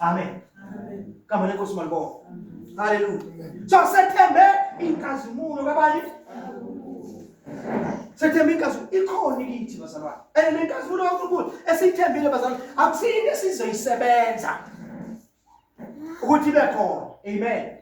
Amen. Amen. Kama niko simalibonga. Hallelujah. So sethembe inkazimulo kabani? Sethembe inkazimulo ikhona kithi bazalwane. And le nkazimulo kaNkulunkulu esithembile bazalwane akusini esizoyisebenza ukuthi ibe khona. Amen.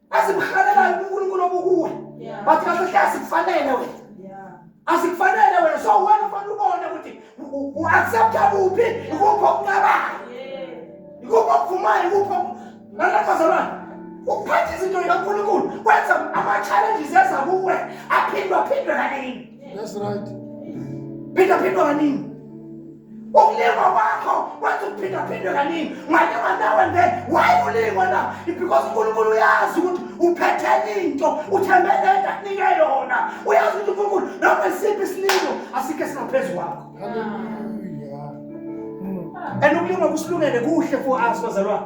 asimhalelayo uNkulunkulu obukuwe but kahle hle asikufanele wena asikufanele wena so wena ufanele ubone ukuthi u-accepta kuphi ikuphi okucabayo ikuphi okuvumayo ikuphi nalabazalwane ukuphatha izinto zikaNkulunkulu kwenza ama-challenges eza kuwe aphindwa phindwe kaningi that's right phindwa phindwa kaningi ukulingwa kwakho wenza ukuphindaphindwe kaningi ungalingwa nawe nje wayi ulingwa na because unkulunkulu uyazi ukuthi uphethele into uthembele into akunike yona uyazi ukuthi unkulunkulu noma isiphi isilingo asikho esingaphezu kwakho and ukulingwa kusilungele kuhle for us bazalwane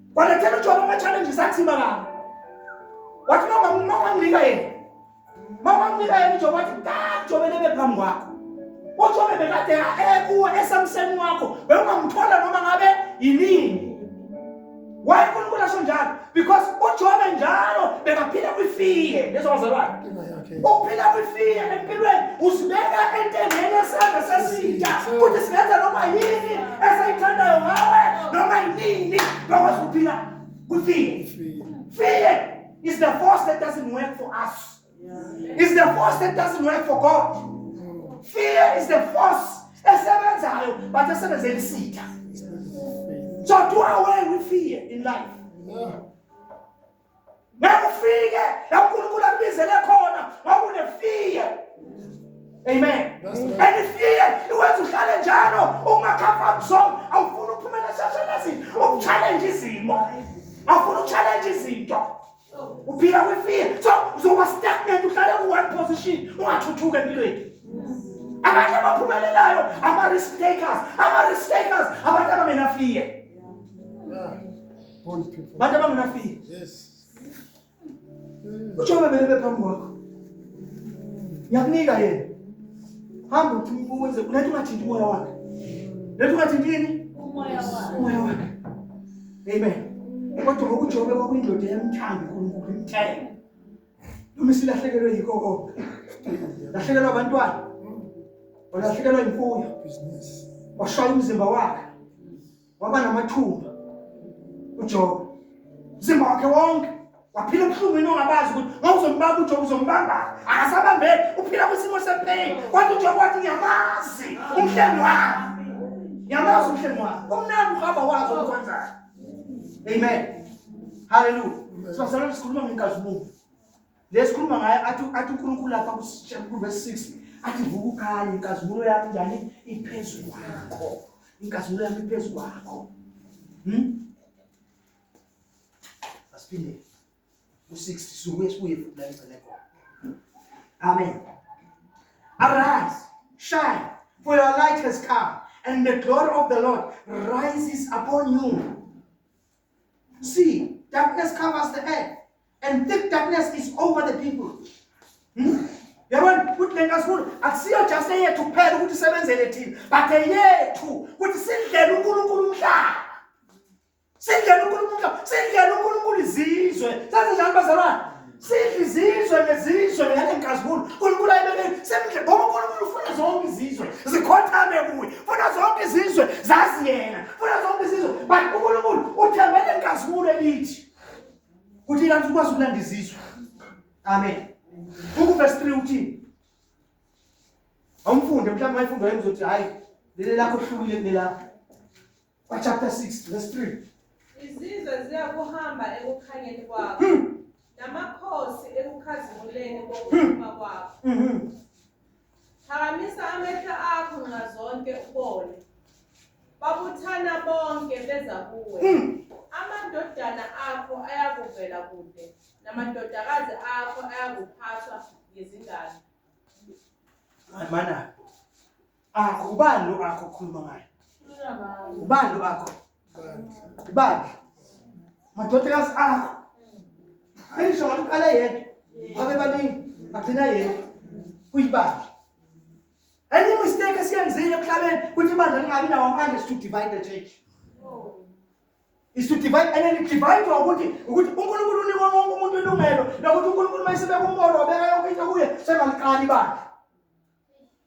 Walethela uJobe ama-challenges athima kabi. Wathi uma ungamnika yena. Uma ungamnika yena uJobe wathi kade uJobe lebe phambi kwakho. UJobe bekade ekuwe esamseni wakho. Bewungamthola noma ngabe yinini. Why uNkulunkulu asho njalo? Because uJobe njalo bekaphila kwifiye lezowazalwane. Ukuphila kwifiya empilweni usibeka entendeni esandla sesinja ukuthi singenza noma yini esayithandayo ngawe noma yinini bakwazi ukuphila kwifiya. Fear is the force that doesn't work for us. It's the force that doesn't work for God. Fear is the force esebenzayo but esebenzela isitha. So do away with fear in life. ngeke ufike la uNkulunkulu akubizele khona ngokunefear amen and fear iwenza uhlale njalo ungakhafaki song awufuni ukuphumela esashenazini ukuchallenge izimo awufuni ukuchallenge izinto uphila kwifear so uzoba stagnant uhlale ku-one position ungathuthuki empilweni abanye abaphumelelayo ama-risk takers ama-risk takers abantu abamenafear bantu abangenafika ujobe belebe phambi kwakho ngiyakunika yena hamba uthi uwenze uletha ungathinti umoya wakhe letha ungathinti yini umoya wakhe amen kodwa ngokujobe kwakuyindoda yamthanda unkulunkulu imthele noma isilahlekelwe yikho konke lahlekelwa abantwana walahlekelwa imfuyo washaya umzimba wakhe waba namathuba uJobe umzimba wakhe wonke waphila ubuhlungwini ongabazi ukuthi ngawuzombamba uJobe uzombamba akasabambeki uphila kwisimo sepain kwathi uJobe wathi ngiyamazi umhlengi wami ngiyamazi umhlengi wami umnandi uhamba wazi okwenzayo amen haleluya sibazalwane sikhuluma ngenkazimulo lesikhuluma ngaye athi athi uNkulunkulu lapha kuverse 6 athi vuka ukhale inkazimulo yami njani iphezulu kwakho inkazimulo yami iphezulu kwakho hm asiphinde u6 suke sibuye futhi la ngicela khona amen arise shine for your light has come and the glory of the lord rises upon you See, darkness covers the earth, and thick darkness is over the people. Hmm? yabona ukuthi le nkasifuna akusiyo just eyethu kuphela ukuthi isebenzele thina but eyethu ukuthi sindlela unkulunkulu umhlaba sindlela unkulunkulu umhlaba sindlela unkulunkulu izizwe sazinjani bazalwane Sidla izizwe nezizwe ngale nkazimulo. Unkulunkulu ayibekeni semdle ngoba unkulunkulu ufuna zonke izizwe zikhothame kuye. Funa zonke izizwe zazi yena. Funa zonke izizwe but unkulunkulu uthembele nkazimulo elithi kuthi kanti ukwazi ukulanda izizwe. Amen. Buku verse 3 uthini? Awumfunde mhlawumbe ayifunde wayezothi hayi leli lakho kuhlukile kunelakho. Kwa chapter 6 verse 3. Izizwe ziyakuhamba ekukhanyeni kwakho. Hmm. Namakhosi ekukhazimuleni kokuphuma kwakho. Mhm. Phakamisa amehlo akho nxa zonke ubone. Babuthana bonke beza kuwe. Hmm. Amadodana akho ayakuvela kude namadodakazi akho ayakuphathwa ngezingane. Mana. akho ubani lo akho khuluma ngaye ubani lo akho ubani madodakazi akho ayisho ngathi uqala yedwa babe baningi agcina yedwa uyibandla enye mistake esiyenzile emhlabeni ukuthi ibandla lingabi nawo amandla is to divide the church is to divide and then divide ukuthi ukuthi uNkulunkulu unikwa wonke umuntu ilungelo lokuthi uNkulunkulu mayisebe kumolo obeka yonke into kuye sengaliqala ibandla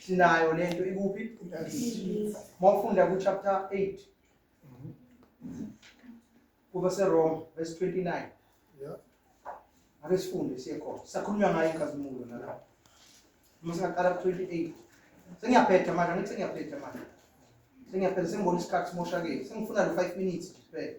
sinayo le nto ikuphi mawufunda kuchapter 8 kuba seroma verse 29 ake sifunde siye khona sakhulunywa ngayo inkazimulo nalapho uma singaqala ku-28 sengiyaphetha manje angithi sengiyaphetha manje sengiyaphetha sengibona isikhathi simoshakele sengifuna lo-five minutes nje kuphela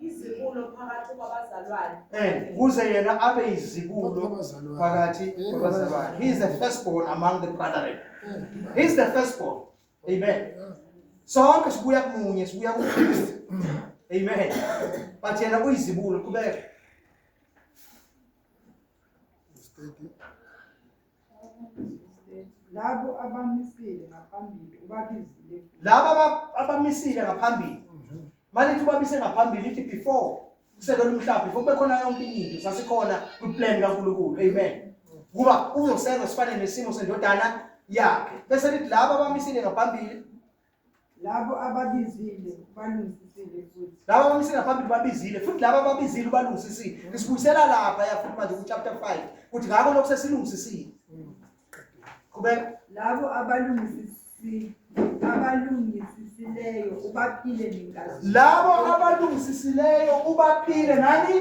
izibulo phakathi kwabazalwane eh kuze yena abe izibulo phakathi eh, kwabazalwane he is the firstborn among the brethren eh. he is the firstborn amen sonke sibuya kumunye sibuya kuKristu amen but yena uyizibulo qhubeka labo abamisile ngaphambili ubabizile laba aba- abamisile ngaphambili malithi ubamise ngaphambili ithi before kusekelwa umhlaba before kube khona yonke into sasikhona kwiplan kankulunkulu amen ukuba uzosenza sifane nesimo sendodana yakhe bese lithi laba abamisile ngaphambili labo ababizile ubalungisisile futhi laba abamsika phambili babizile futhi laba ababizile ubalungisisile isibuyisela lapha yafuthi manje kuchapter 5 kuthi ngakho lokhu sesilungisisile qhubeka labo abalungisisile abalungisisileyo ubaphile nenkazimulo labo abalungisisileyo ubaphile nani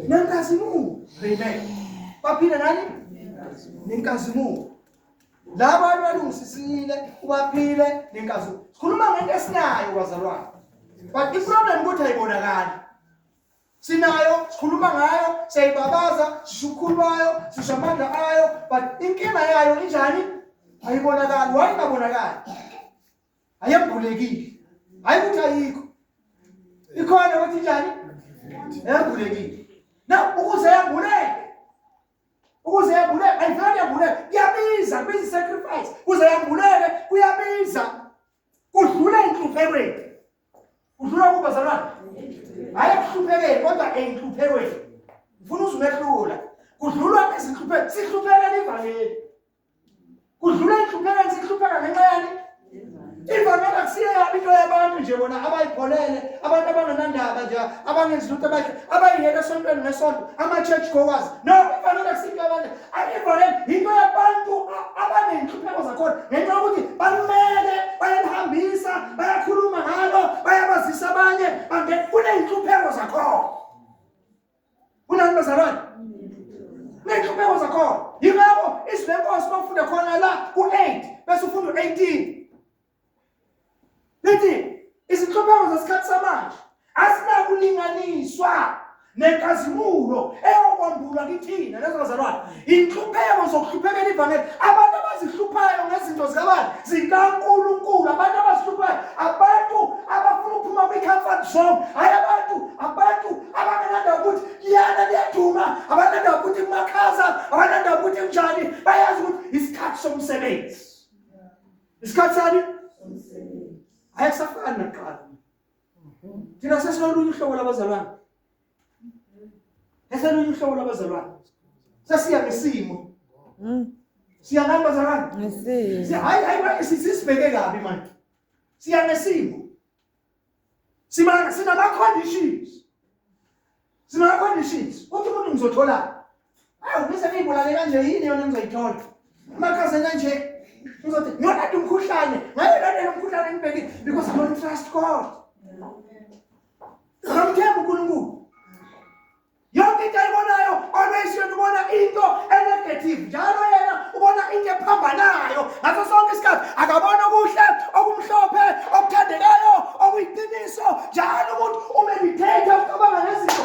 nenkazimulo amen baphile nani nenkazimulo laba bantu balungisisile ubaphile nenkazu sikhuluma ngento esinayo kwazalwane but iproblem ukuthi ayibonakali sinayo sikhuluma ngayo siyayibabaza sisho ukhulu bayo sisho amandla ayo but inkinga yayo injani ayibonakali waye ingabonakali ayembulekile hayi ukuthi ayikho ikhona ukuthi njani yembulekile na ukuze yambuleke ukuze yambuleke ayivele yambuleke kuyabiza kubiza isacrifice kuze yambuleke kuyabiza kudlula enhluphekweni kudlula kuba zalwana hayi ekuhluphekeni kodwa enhluphekweni ngifuna uzumehlula kudlulwa ezinhluphekweni sihluphekela ivangeli kudlula inhlupheko esihlupheka ngenxa yani ivangeli akusiyo yabo into yabantu nje bona abayipholele abantu abanganandaba nje abangenzi lutho abahle abayiyela esontweni nesonto ama-church goers no ivangeli akusiyo into yabantu ivangeli yinto yabantu abaney'nhlupheko zakhona ngenxa yokuthi balumele bayalihambisa bayakhuluma ngalo bayabazisa abanye kuney'nhlupheko zakhona kunani bazalwane ney'nhlupeko zakhona yingakho izwi lenkosi uma ufunde khona la ku-eight bese ufunda u-eighteen lithi izinhlupeko zesikhathi samanje azinakulinganiswa nenkazimulo eyokwambulwa kithina lezo bazalwane inhlupheko zokuhluphekela ivangeli abantu abazihluphayo ngezinto zikabani zikankulunkulu abantu abazihluphayo abantu abafuna ukuphuma kwi-comfort zone hhayi abantu abantu abangenanda ukuthi liyana liyaduma abananda ukuthi kumakhaza abananda ukuthi kunjani bayazi ukuthi isikhathi somsebenzi isikhathi sani ayekusafani nakuqala thina sesinolunye uhlobo labazalwane Eselunye uhlobo lwabazalwane. Sasiya ngesimo. Mm. Siya nani bazalwane? Ngesimo. Siya hayi hayi manje sisibheke kabi manje. Siya ngesimo. Sima sina conditions. Sina conditions. Uthi umuntu ngizothola. Awu bese ngibolale kanje yini yona ngizoyithola. Makaze kanje ngizothi ngiyona umkhuhlane. Ngaye lona umkhuhlane ngibhekile because I don't trust God. Ngamthemba uNkulunkulu. Yonke into ayibonayo always yona ubona into enegative njalo yena ubona into ephambanayo ngaso sonke isikhathi akabona okuhle okumhlophe okuthandekayo okuyiqiniso njalo umuntu umeditate ucabanga ngezinto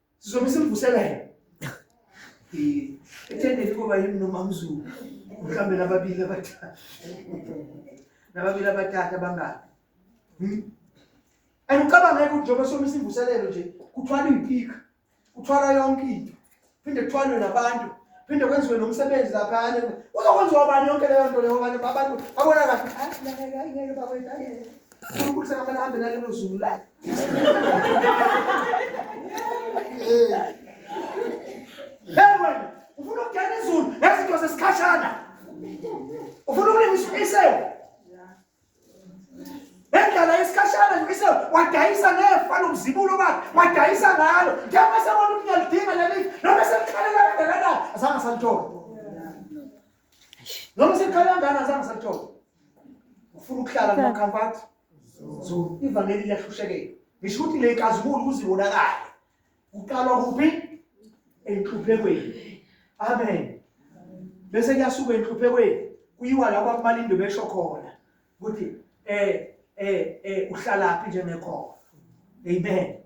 sizobe simvusela yena ethendeni kuba yimi nomamzulu mhlawumbe nababili abathathu nababili abathathu abangaki hmm? and ucabangeke ukuthi njengoba soma isimvuselelo nje kuthwala iy'pika kuthwala yonke into phinde kuthwalwe nabantu phinde kwenziwe nomsebenzi laphana uzokwenziwa bani yonke leyo nto leyo abantu babona kahle uNkulunkulu sekamele ahambe nalelo zulu la Hey wena ufuna ukungena izulu nezinto zesikhashana ufuna ukulingisa isewu ngendlela yesikhashana nje isewu wadayisa nefa lomzibulo bakhe wadayisa ngalo njengoba sebona ukuthi ngiyalidinga leli noma selikhalela kangakanani azange asalitholi noma sekhala ngana azange sathola ufuna ukuhlala noma comfort so ivangeli liyahlushekela ngisho ukuthi le kazibulo kuzibonakala kuqalwa kuphi enhluphekweni amen bese kuyasuka enhluphekweni kuyiwa lapho abamalindo besho khona ukuthi eh eh eh uhlalaphi njengekhona amen